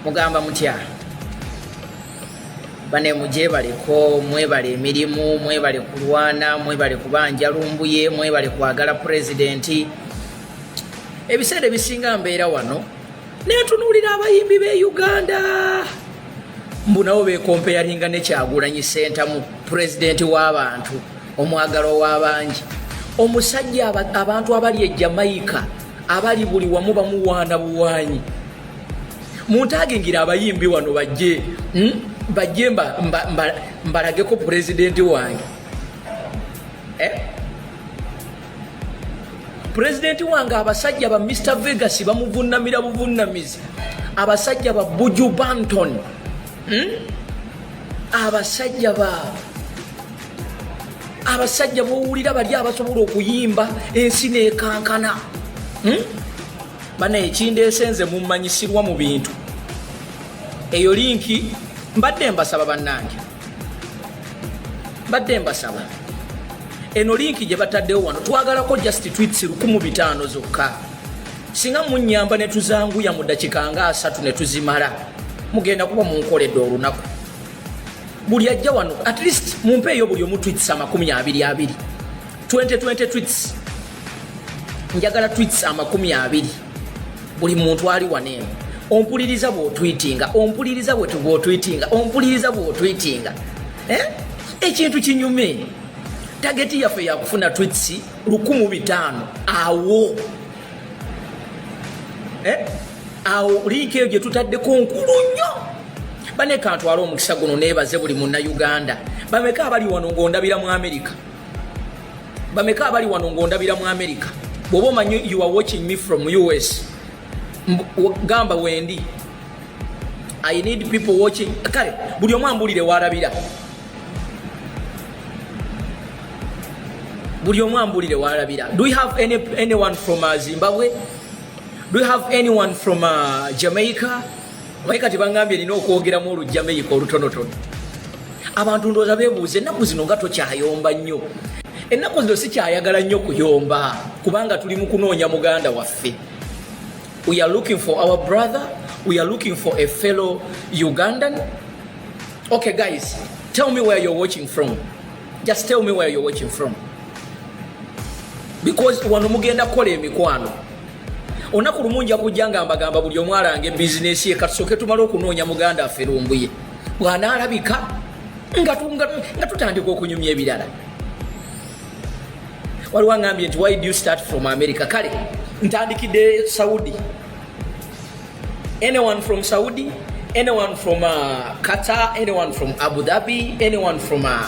mugamba mutya bane mugyebaleko mwebale emirimu mwebale kulwana mwebale kubanja lumbuye mwebale kwagala pulezidenti ebiseera ebisinga mbeera wano netunuulira abayimbi be uganda mbu nabo bekompeyaringa nekyagulanyi sentamu pulezidenti w'abantu omwagala ow'abangi omusajja abantu abali e jamaica abali buli wamu bamuwaana buwaanyi muntagingira abayimbi wano bajje hmm? bajje mbalageko pulezidenti wange eh? pulezidenti wange abasajja ba mr vegas bamuvunamira buvunamizi abasajja ba buju banton hmm? abasajja ba abasajja bowulira bali abasobola okuyimba ensi nekankana hmm? bana ekindeese nze mumanyisirwa mu bintu eyo linki mbadde mbasaba bannange mbadde mbasaba eno linki gye bataddewo wano twagalako just twits lukumu bitaano zokka singa munyamba ne tuzanguya mu dakika nga asatu ne tuzimala mugenda kuba munkoledde olunaku buli ajja wano at least mumpeeyo buli omu twits amakumi abiri abiri 2020 twits njagala twits amakumi abiri buli muntu ali waneemu ompuliriza bwotwitinga ompuliriza bwetubwotwitinga ompuliriza bwotwitinga eh? ekintu kinyume tageti yaffe yakufuna twits lukumu bitaano awo eh? awo liika eyo gyetutaddeko nkulu nnyo baneka ntwala omukisa guno nebaze buli munnauganda bameka abali wano ngaondabira mu amerika bameka abali wano ng'ondabira mu america bw'oba omanyi you are watching me from us gamba wendi i need people watching kale buli omu ambulire walabira buli omu ambulire walabira do we have any, anyone from uh, zimbabwe do we have anyone from uh, jamaica Naye kati bangambye nina okwogeramu olujjameyika olutonotono. Abantu ndowooza beebuuza ennaku zino nga tokyayomba nnyo. Ennaku zino sikyayagala nnyo kuyomba kubanga tuli mu kunoonya muganda waffe. We are looking for our brother, we are looking for a fellow Ugandan. Okay guys, tell me where you're watching from. Just tell me where you're watching from. Because wano mugenda kukola emikwano. olunaku lumu nja kujja nga mbagamba buli omu alange bizinesi ye katusooke tumale okunoonya muganda affe lumbuye bw'anaalabika nga tutandika okunyumya ebirala waliwo angambye nti why do you start from america kale ntandikidde saudi anyone from saudi anyone from uh, qatar anyone from abu dhabi anyone from uh,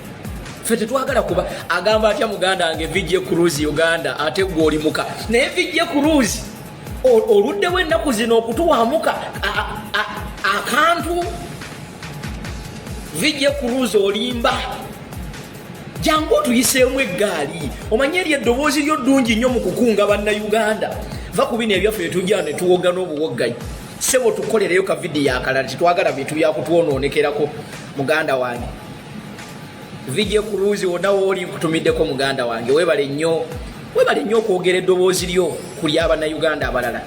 ffe tetwagala kuba agamba atya muganda wange vijje cruise uganda ate gwe olimuka naye vijje cruise oluddewo ennaku zino okutuwamuka akantu vijje cruise olimba jangu otuyiseemu eggaali omanye eryo eddoboozi lyo ddungi nnyo mu kukunga bannayuganda va ku bino ebyaffe etujja ne tuwogga n'obuwogganyi sebo tukolereyo kavidiyo akalala tetwagala bintu byakutwonoonekerako muganda wange vijje ku luuzi wonna wooli nkutumiddeko muganda wange webale nnyo webale nnyo okwogera eddoboozi lyo ku lyabannayuganda abalala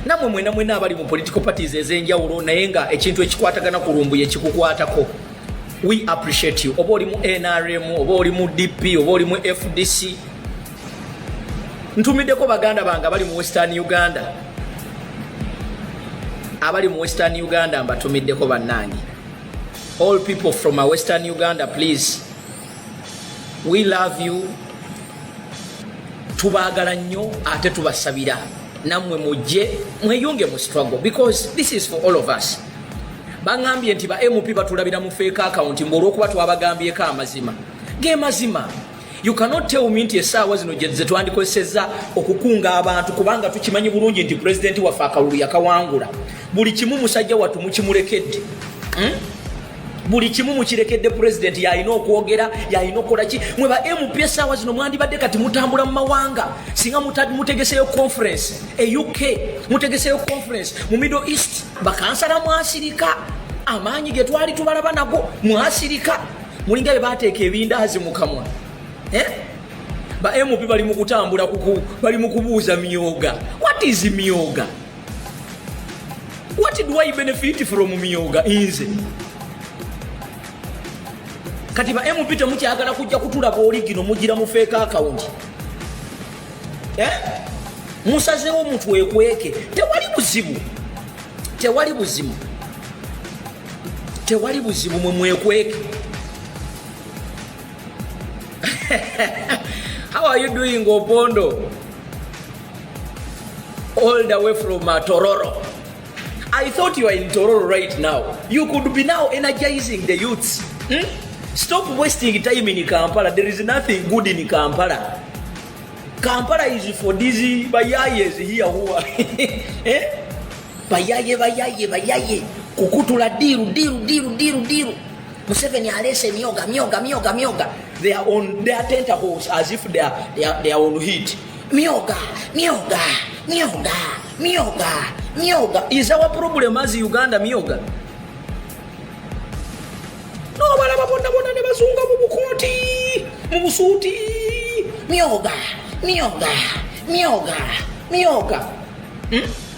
namwe mwena mwena abali mu political parties ez'enjawulo naye nga ekintu ekikwatagana ku lumbuye kikukwatako we appreciate you oba oli mu nrm oba oli mu dp oba oli mu fdc ntumiddeko baganda bange abali mu western uganda abali mu western uganda mbatumiddeko bannange All people from Western Uganda please we love you tubagala nnyo ate tubasabira namwe mujje mweyunge mu struggle because this is for all of us baŋambye nti ba mp batulabira mu feeka akawunti mbu olwokuba twabagambyeko amazima ge mazima You cannot tell me nti esaawa zino zetwandikozesezza okukunga abantu kubanga tukimanyi bulungi nti pulezidenti waffe akalulu yakawangula. Buli kimu musajja wattu mukimulekedde. Hmm? buli kimu mukirekedde pulezidenti yalina okwogera yalina okukola ki mwe ba mp esaawa zino mwandibadde kati mutambula mu mawanga singa mutegeseyo conference e uk mutegeseyo conference mu middle east bakansala mwasirika amaanyi ge twali tubalaba nago mwasirika mulinga bebateeka ebindaazi mu kamwa eh? ba mp bali mu kutambula bali mu kubuuza myoga what is myoga what do i benefit from myoga inze kati ba mp temukyagala kujja kutulaba oligino mugira mufeeka akawunti eh? musazewo mutwekweke tewali buzibu tewali buzibu tewali buzibu mwe mwekweke how are you doing opondo all the way from uh, tororo i thought you are in tororo right now you could be now energizing the youths hmm? stop wasting time in kampala there is nothing good in kampala kampala is for these bayayes here who are eh? Bayaye bayaye bayaye kukutula diru diru diru diru diru Museveni alese myoga myoga myoga myoga they are on their tentacles as if they are, they are, they are on heat myoga myoga myoga myoga myoga is our problem as Uganda myoga no balaba bonna bonna ne bazunga mu bukooti mu busuuti myoga myoga myoga myoga hmm?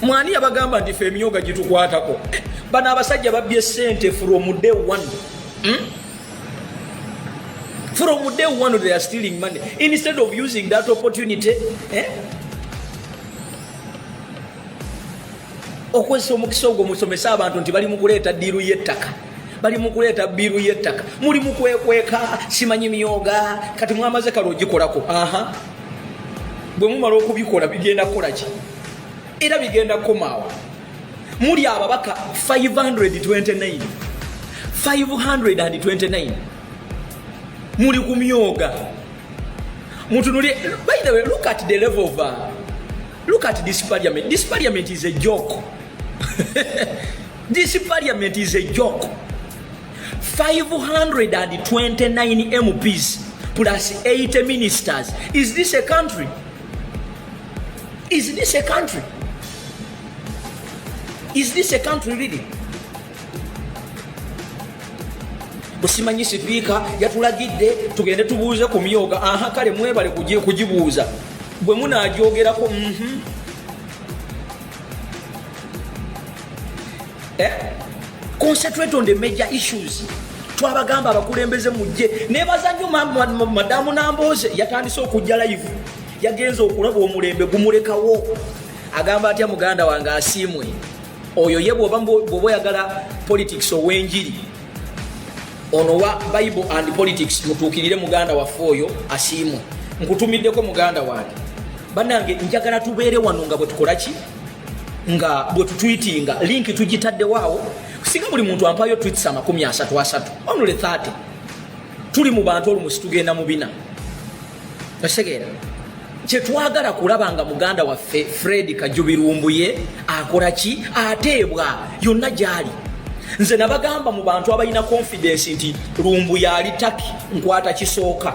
mwani yabagamba nti fe emyoga gitukwatako eh, bano abasajja babbye sente from day one hmm? from day one they are stealing money instead of using that opportunity eh? okozesa omukisa ogwo musomesa abantu nti bali mukuleeta diiru y'ettaka bali mukuleeta biiru y'ettaka muli mukwekweka simanyi myoga kati mwamaze kale ogikolako aha bwe mumala okubikola bigenda kukola ki era bigenda kukomaawa muli ababaka 529 529 muli ku myoga mutunulye by the way look at the level of uh, look at this parliament this parliament is a joke this parliament is a joke 529 MPs plus 80 ministers. Is this a country? Is this a country? Is this a country really? busimanyi sipiika yatulagidde tugende tubuuze ku myoga aha kale mwebale kugibuuza bwe munagyogerako mm -hmm. eh? concentrate on the major issues twabagamba abakulembeze mujje nebaza nyo madamu namboze yatandise okujja live yagenze okulaba omulembe gumulekawo agamba atya muganda wange asiimwe oyo ye bwoba oyagala politics owenjiri ono wa bible and politics mutuukirire muganda waffe oyo asiimwe nkutumiddeko muganda wange banange njagala tubeere wano nga bwetukolaki nga bwe tutwitinga linki tugitaddewo awo singa buli muntu ampayo twits amakumi asatu asatu onule 30 tuli mu bantu olumusi tugenda mu bina osegeera kyetwagala kulaba nga muganda waffe fred kajubirumbuye akola ki ateebwa yonna gyali nze nabagamba mu bantu abalina konfidensi nti lumbuye ali taki nkwata kisooka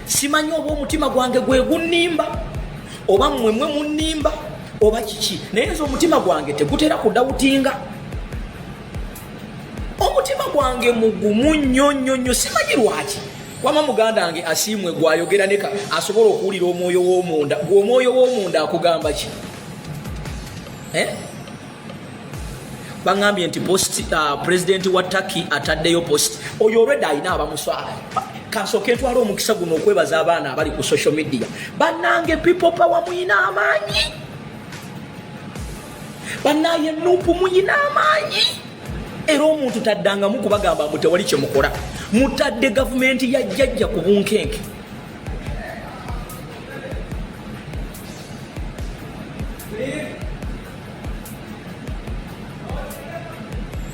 simanyi oba omutima gwange gwegunnimba oba mmwemwe munnimba oba kiki naye nze omutima gwange tegutera kudawutinga omutima gwange mugumu nnyo nnyo nnyo simanyi lwaki wama muganda wange asiimwe gwayogera neka asobola okuwulira omwoyo womunda gwe omwoyo womunda akugamba ki eh? bangambye nti post uh, president wa Turkey ataddeyo post oyo olwedda alina abamuswala kansooke ntwala omukisa guno okwebaza abaana abali ku social media banange people power muyina amaanyi banaye nupu muyina amaanyi era omuntu taddangamu kubagamba mbu tewali kyemukola mutadde gavumenti ya jjajja ku bunkenke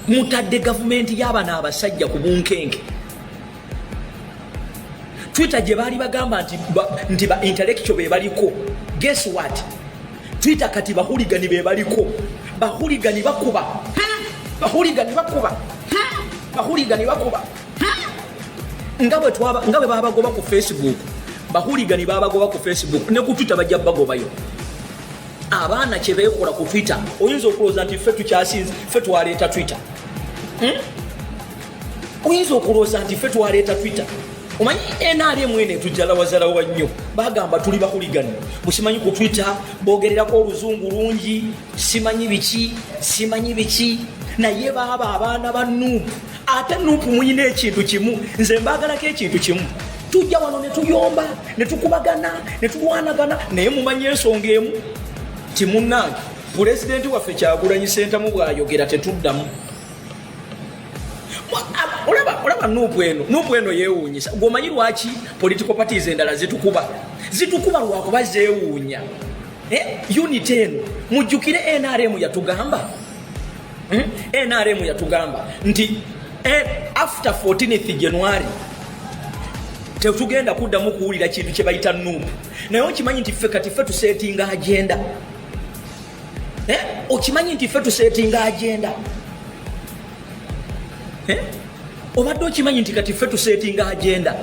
mutadde gavumenti y'abana abasajja ku bunkenke twitter gye baali bagamba nti nti ba intellectual be baliko guess what twitter kati bahuligani be baliko bahuligani bakuba bahuligani bakuba bahuligani bakuba nga bwe twaba nga bwe babagoba ku facebook bahuligani babagoba ku facebook ne ku twitter bajja bagobayo abaana kyebekola ku twitter oyinza okulowooza nti ffe tukyasinze ffe twaleeta twitter hmm? oyinza okulowooza nti ffe twaleeta twitter omanyi nrm eno etujjalawazalawa nnyo bagamba tuli bakuligani busimanyi ku twitter bogererako oluzungu lungi simanyi biki simanyi biki naye baaba abaana ba nuupu ate nupu muyina ekintu kimu nze mbagalako ekintu kimu tujja wano netuyomba netukubagana netulwanagana naye mumanyi ensonga emu kimunange pulezidenti waffe kyagulanyi sentamu bwayogera tetuddamu olaba nupu eno nupu eno yewunyisa gwomanyi lwaki political parties endala zitukuba zitukuba lwakuba zewunya eh, unit eno mujjukire nrm yatugamba Hmm? NRM yatugamba nti eh, after 14th January tetugenda kuddamu kuwulira kintu kye bayita nuupu naye okimanyi nti ffe kati ffe tuseetinga agenda eh? okimanyi nti ffe tuseetinga agenda eh? obadde okimanyi nti kati ffe tuseetinga agenda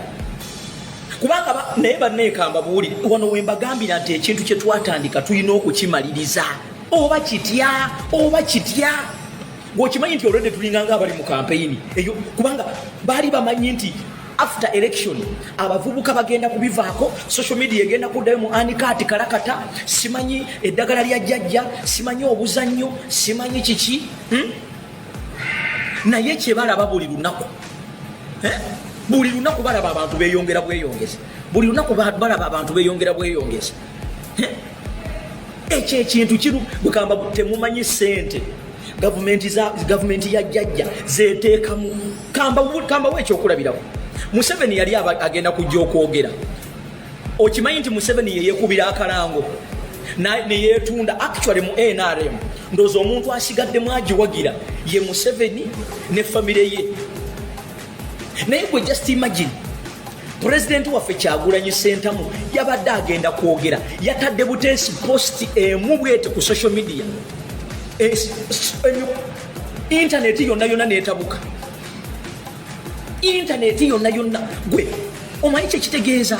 kubanga naye banneekamba buwulire wano wembagambira nti ekintu kye twatandika tulina okukimaliriza oba kitya oba kitya gweokimanyi nti olwedde tulinganga abali mu kampeyini eyo kubanga baali bamanyi nti after election abavubuka bagenda kubivaako social media egenda kuddayo mu anikaati kalakata simanyi eddagala lya jjajja simanyi obuzannyo simanyi kiki hmm? naye kyebalaba buli lunaku eh? buli lunaku balaba abantu beyongera bweyongeza buli lunaku balaba abantu beyongera bweyongeza ekyo ekintu kiru bukamba temumanyi sente gavumenti za gavumenti ya jajja zeteekamu kamba kamba we ekyokulabirako museveni yali agenda kujja okwogera okimanyi nti museveni yeyekubira akalango neyetunda actually mu nrm ndoozi omuntu asigaddemu agiwagira ye museveni ne famire ye naye gwe just imagine pulezidenti waffe kyagulanyi sentamu yabadde agenda kwogera yatadde buteesi posti emu bwete ku social media intaneti yonna yonna netabuka intaneti yonna yonna gwe omanyi kyekitegeeza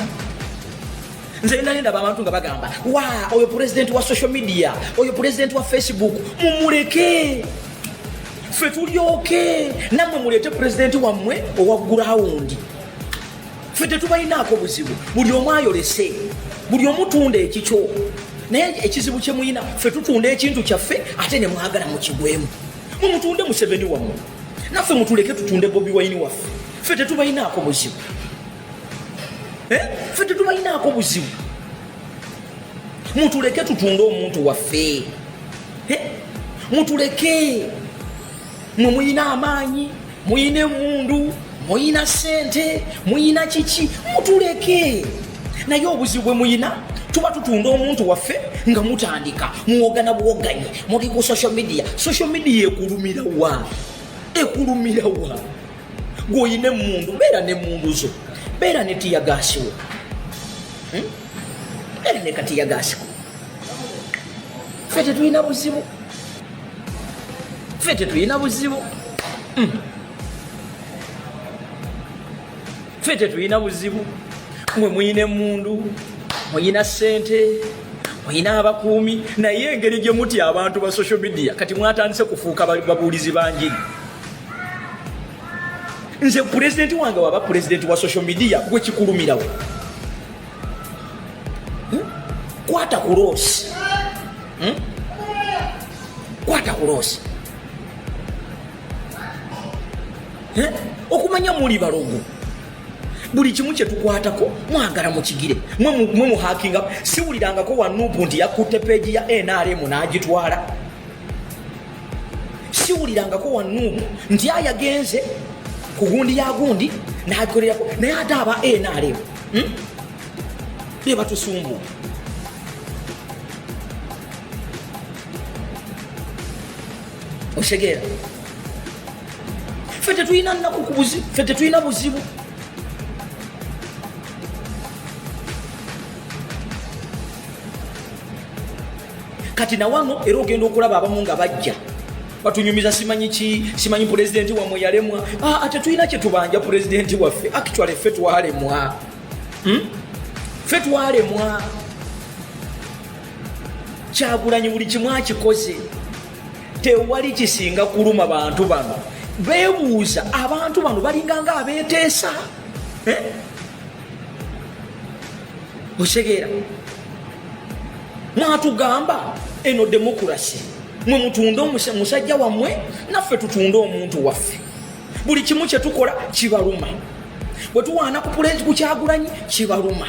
nze nali ndaba abantu nga bagamba wa oyo pulezidenti wa social media oyo pulezidenti wa facebook mumuleke ffe tulyoke nammwe muleete pulezidenti wammwe owa gurawundi ffe tetubalinaako buzibu buli omu ayolese buli omutunda ekikyo naye ekizibu kyemuyina ffe tutunda ekintu kyaffe ate nemwagala mukigwemu mumutunde museveni wamu naffe mutuleke tutunde bobi wayini waffe ffe tetubalinaako buzibu eh? ffe tetubalinaako buzibu mutuleke tutunde omuntu waffe mutuleke mwe muyina amaanyi muyina emundu muyina sente muyina kiki mutuleke naye obuzibu bwe muyina tuba tutunda omuntu waffe nga mutandika muwogana buwoganyi muli ku social media social media ekulumira wa ekulumira wa gwoyina emundu beera nemundu zo beera netiyagasiwo hmm? beera nekatiyagasiko fe tetulina buzibu fe tetulina buzibu hmm. fe tetulina buzibu mwe muyina emundu muyina sente olina abakuumi naye engeri gye mutya abantu ba social media kati mwatandise kufuuka babuulizi banjiri nze pulezidenti wange waba pulezidenti wa social media gwe kikulumirawo hmm? kwata ku loosi hmm? kwata ku loosi hmm? okumanya muli balogo buli kimu kyetukwatako mwagala mukigire mwe muhakinga siwulirangako wanupu nti yakutte peegi ya nrm n'agitwala siwulirangako wanuumu nti ayagenze ku gundi ya gundi nakolerako naye ate aba nrm hmm? be batusumbu otegeera fe tetulina naku fe tetulina buzibu kati nawano era ogenda okulaba abamu nga bajja batunyumiza simanyi ki simanyi pulezidenti wamwe yalemwa ah, ate tulina kyetubanja pulezidenti waffe actually ffe twalemwa hmm? ffe twalemwa kyagulanyi buli kimu akikoze tewali kisinga kuluma bantu bano bebuuza abantu bano balinganga abeteesa eh? otegeera natugamba eno demokurasi mwe mutunde omusajja wammwe naffe tutunde omuntu waffe buli kimu kyetukola kibaluma bwe tuwaana ku pulezi ku kyagulanyi kibaluma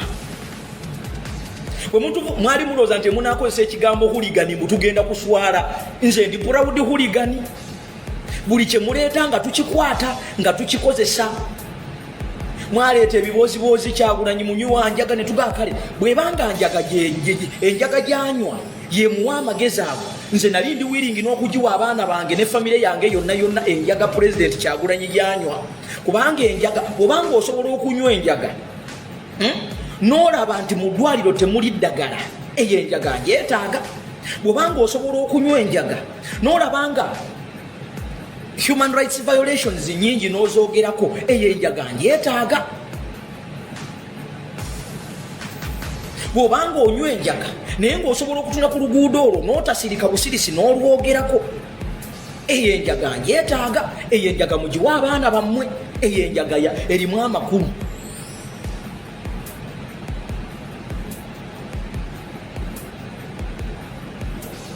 mwali mulooza nti munakozesa ekigambo huligani mutugenda kuswala nze ndi purawudi huligani buli kyemuleeta nga tukikwata nga tukikozesa mwaleeta ebibooziboozi kyagulanyi munywa njaga netugaa kale bwebanga njaga enjaga gyanywa yemuwa amagezi ago nze nali ndi wiringi n'okugiwa abaana bange ne famire yange yonna yonna enjaga pulezidenti kyagulanyi gyanywa kubanga enjaga obanga osobola okunywa enjaga hmm? n'olaba nti mu ddwaliro temuli ddagala eyo enjaga njetaaga bwobanga osobola okunywa enjaga nolabanga human rights violations nyingi nozogerako eyo enjaga ndyetaaga bwobanga onywa enjaga naye ngaosobola okutunda ku luguudo olwo notasirika busirisi nolwogerako eyo enjaga ndyetaaga eyo enjaga mugiwa abaana bammwe eyo enjaga erimu amakulu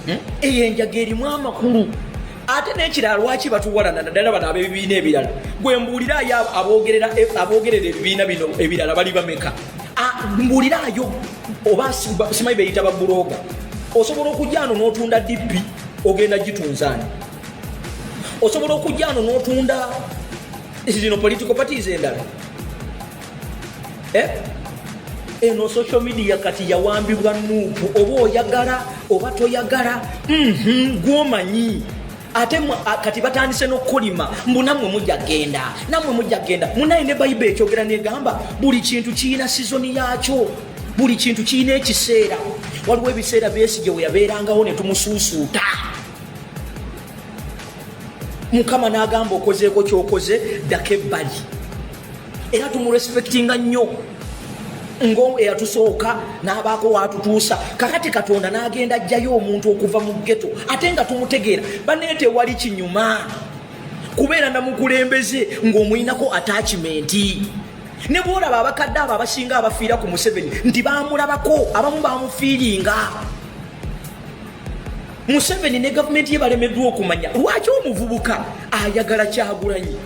Hmm? eyo enjaga erimu amakulu ate nekirala lwaki batuwalana naddala bano abebibiina ebirala gwe mbuulirayo abogerera eh, ebibiina bino ebirala bali bameka ah, mbuulirayo oba simanyi beyita babuloga osobola okujano notunda dippi ogenda gitunzani osobola okujano notunda zino political parties endala eh? eno social media kati yawambibwa nuupu oba oyagala oba toyagala mhm, gwomanyi ate kati batandise nokukolima mbu namwe mujja genda namwe mujja genda munaye ne bayibe ekyogera negamba buli kintu kiyina sizoni yakyo buli kintu kiyina ekiseera waliwo ebiseera besigye weyabeerangawo netumusuusuuta mukama nagamba okozeeko kyokoze ddako ebbali era tumurespektinga nnyo ngo eyatusooka n'abaako waatutuusa kakati katonda n'agenda ajjayo omuntu okuva mu geto ate nga tumutegeera baneete wali kinyuma kubeera namukulembeze ng'omuyinako atakimenti ne bwolaba abakadde abo abasinga abafiira ku museveni nti bamulabako abamu bamufiiringa museveni ne gavumenti ye balemeddwa okumanya lwaki omuvubuka ayagala kyagulanyi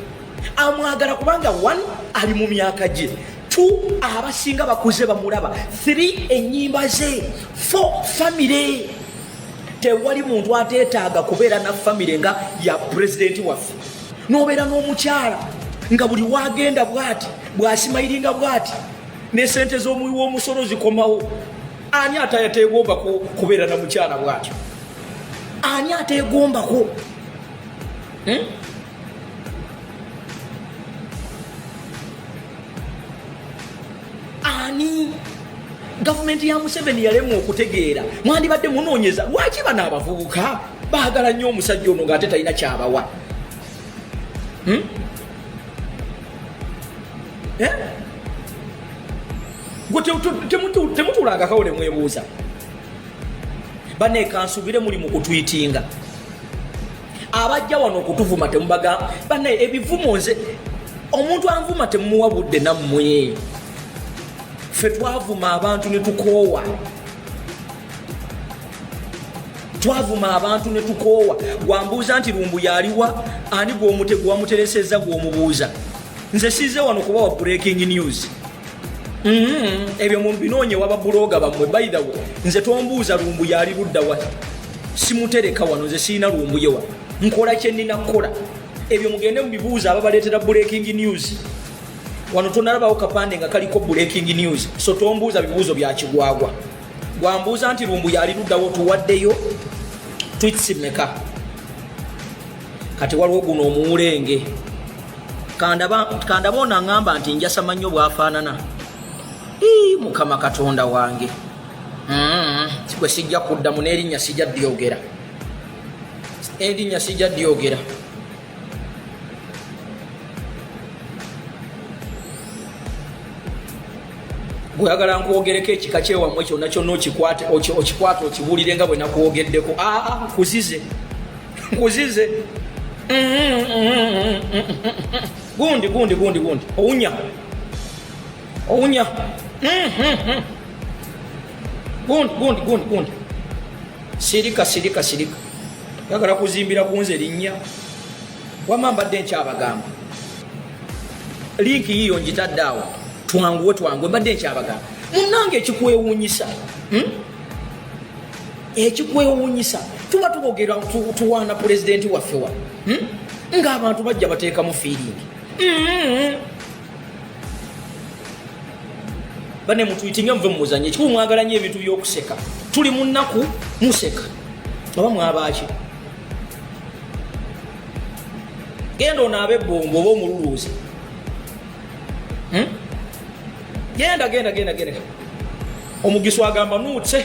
amwagala kubanga one ali mu myaka gye two abasinga bakuze bamulaba three enyimba ze four famire tewali muntu ateetaaga kubeera na famire nga ya pulezidenti waffe nobeera n'omukyala nga buli wagenda bwati bwasimayiringa bwati nesente z'omuwi w'omusolo zikomawo ani ate ateegombako kubeera na mukyala bwatyo ani ateegombako hmm? ani gavumenti ya museveni yalemwa okutegeera mwandibadde munoonyeza lwaki bano abavubuka baagala nnyo omusajja ono ngaate talina kyabawa hmm? eh? gwe temutuulangakawo nemwebuuza baneekansubire muli mu kutwitinga abajja wano okutuvuma temubagamba banaye ebivumo nze omuntu anvuma temumuwa budde nammwe ffe twavuma abantu ne tukoowa twavuma abantu ne tukoowa gwambuuza nti lumbu yaliwa ani gwomutego wamuteresezza gwomubuuza nze size wano kubawa breaking news Mm-hmm. ebyo mumbinoonye waba bulooga bamwe bayidawo nze tombuuza lumbu yaali ludda wa simutereka wano nze sirina lumbu yewa nkola kyenina kukola ebyo mugende mubibuuza ababaleetera breaking news wano tonalabawo kapande nga kaliko breaking news so tombuuza bibuuzo byakigwagwa gwambuuza nti lumbu yaali luddawo tuwaddeyo twitsimeka kati waliwo guno omuwulenge kandaba ono aŋamba nti njasama nnyo bwafaanana mukama katonda wange mm-hmm. kigwe sijja kuddamu n'erinnya sijja dyogera erinnya sijja dyogera gweyagala nkwogereko ekika kyewammwe kyonna kyonna okikwate okibuulire nga bwe nakwogeddeko aa ah, ah, kuzize nkuzize gundi gundi gundi gundi owunya owunya gundi gundi gundi gundi sirika sirika sirika yagala kuzimbira kunze linnya wama mbadde nkyabagamba linki yiyo njitadde awo twanguwe twanguwe mbadde nkyabagamba munange ekikwewunyisa hmm? ekikwewuunyisa tuba tubogera tuwaana pulezidenti waffe wa hmm? ng'abantu bajja bateekamu fiiringi hmm. bane mutuyitinga muve mumuzanye kikuba mwagala nyo ebintu by'okuseka tuli mu nnaku museka oba mwabaaki genda onaabe ebbombo oba omululuuzi hmm? genda genda genda genda omugisu agamba nuutse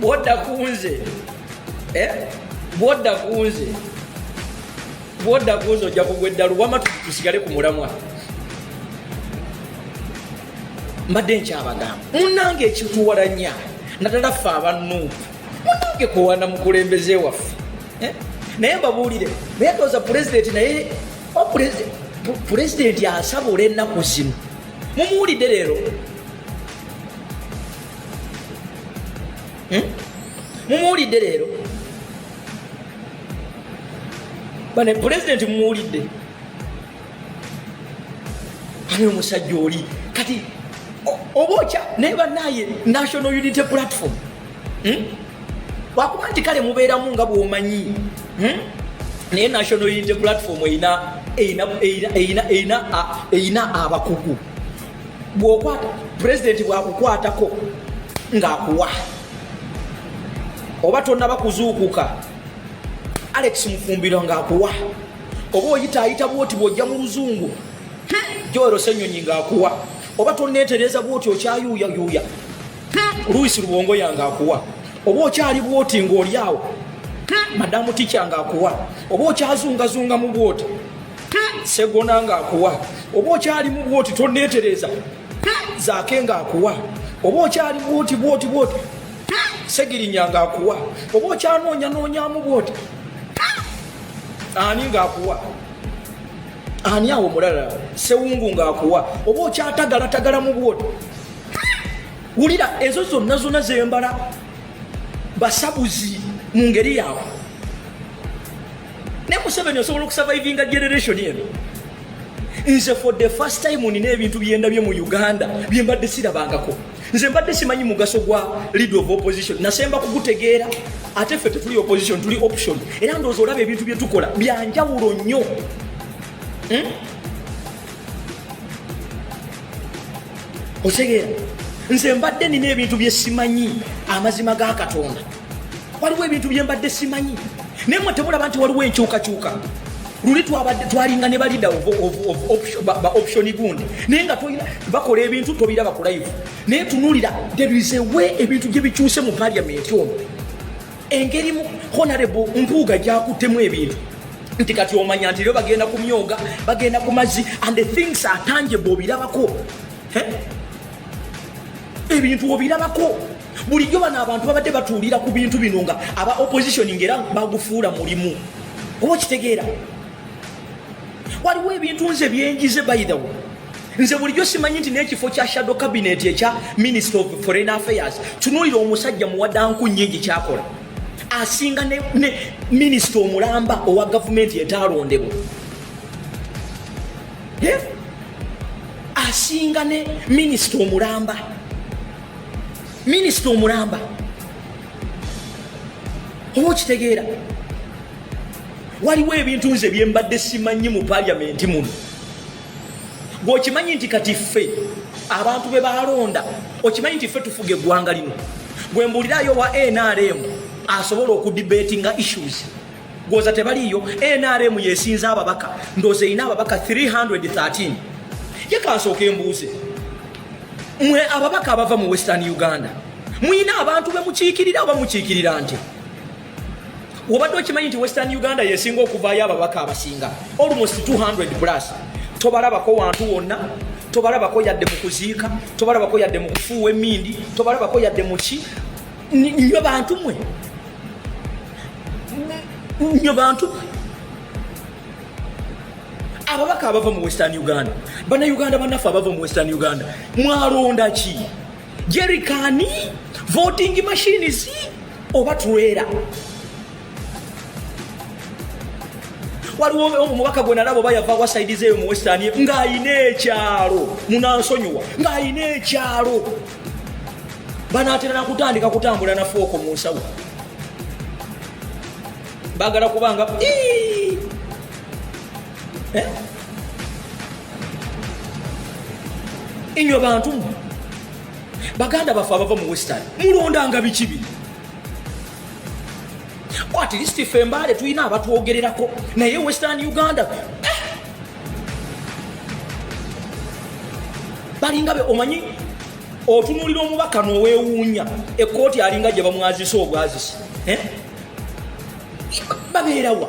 bwodda kunze eh? bwodda kunze bwodda kunze ojja kugwa eddalu wama tusigale ku mulamwa mbadde nkyabagamba munange ekituwalanya naddala ffe abanuupu munange kuwana mukulembeze waffe eh? naye mbabuulire naye toza pulezidenti naye oh, pulezidenti asabula ennaku zino mumuwulidde leero hmm? mumuwulidde leero bane pulezidenti mumuwulidde ani omusajja oli kati oba okya naye banaye national unity platform hmm? wakuba nti kale mubeeramu nga bwomanyi hmm? naye national unity platform erina abakugu bwokwata pulezidenti bwakukwatako ngaakuwa oba tonaba kuzuukuka alex mufumbiro ngaakuwa oba oyitaayita bwoti bwojja mu luzungu hmm? joero senyonyi ngaakuwa oba tonetereza bwoti okyayuuyayuuya luisi lubongo yange akuwa oba okyali bwoti ng'oli awo madamu tikya ng'akuwa oba okyazungazunga mu bwoti segona ng'akuwa oba okyali mu bwoti toneetereza zaake ng'akuwa oba okyali bwoti bwoti bwoti segirinya ng'akuwa oba okyanoonya noonyamu bwoti ani ng'akuwa ani awo mulala sewungu ng'akuwa oba okyatagalatagalamu bwoti wulira ezo zonna zonna zembala basabuzi mu ngeri yaabwe ne museveni osobola okusavaivinga generation eno nze for the first time nina ebintu byendabye mu uganda byembadde sirabangako nze mbadde simanyi mugaso gwa lead of opposition nasemba kugutegeera ate ffe tetuli opposition tuli option era ndoozi olaba ebintu byetukola byanjawulo nnyo hmm? otegeera nze mbadde nina ebintu bye simanyi amazima ga katonda waliwo ebintu bye mbadde simanyi naye mwe temulaba nti waliwo enkyukakyuka luli twabadde twalinga ne balida ba option gundi naye nga tolina bakola ebintu tobiraba ku live naye tunulira there is a way ebintu gye bikyuse mu parliament ono engeri honarebo mpuuga gyakuttemu ebintu nti kati omanya nti lyo bagenda ku myoga bagenda ku mazzi and the things are tangible obirabako ebintu obirabako bulijjo bano abantu babadde batuulira ku bintu bino nga aba opposition ngaera bagufuula mulimu oba okitegeera waliwo ebintu nze byenjize bayidawo nze bulijjo simanyi nti n'ekifo kya shadow cabinet ekya minister of foreign affairs tunuulira omusajja muwadanku nyingi kyakola asinga ne, ne minister omulamba owa gavumenti etaalondebwa yeah? asinga ne minister omulamba minister omulamba oba okitegeera waliwo ebintu nze byembadde simanyi mu paliamenti muno gweokimanyi nti kati ffe abantu be balonda okimanyi nti ffe tufuga eggwanga lino gwe mbuulirayo wa nrm asobola okudibetinga issues gwoza tebaliiyo nrm yesinza ababaka ndooza erina ababaka 313 ye kansooka embuuze mwe ababaka abava mu western uganda mulina abantu bemukiikirira oba mukiikirira nti obadde okimanyi nti western uganda yesinga okuvaayo ababaka abasinga almost 200 plus tobalabako wantu wonna tobalabako yadde mu kuziika tobalabako yadde mu kufuuwa emindi tobalabako yadde muki nyo bantu mwe nyo bantu mwe ababaka abava mu western uganda banauganda banaffe abava mu western uganda mwalonda ki jerikani voting machines oba tulwera waliwo omubaka gwe nalaba oba yava wasaidiza eyo mu western ng'alina ekyalo munansonyiwa ng'alina ekyalo banaatera nakutandika kutambula nafuoko mu nsawo bagala kubanga eh? enywe bantu mwe baganda baffe abava mu western mulondanga biki bino atleast fe mbaale tulina abatwogererako naye western uganda eh! balinga be omanyi otunulira omubaka nowewuunya ekkooti alinga gye bamwazisa obwazisi eh? babeerawa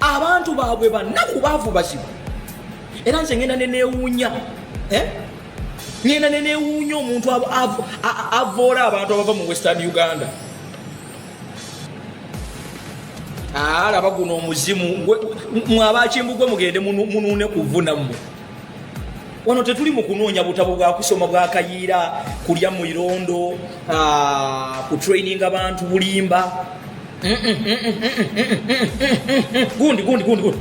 abantu baabwe bannaku baavu bazibu era nze ngenda nenewuunya eh? ngenda nenewuunya omuntu avoola abantu abava mu western uganda alaba ah, guno omuzimu mwabakimbu gwe mugende munuune kuvuna mmwe wano tetuli mu kunoonya butabo bwa kusoma bwa kayiira kulya mu irondo ah, ku traininga bantu bulimba gundi gundi gundi gundi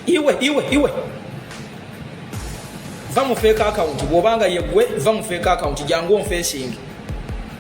iwe iwe iwe va mu fake account bwobanga yegwe va mu fake account jangu onfesingi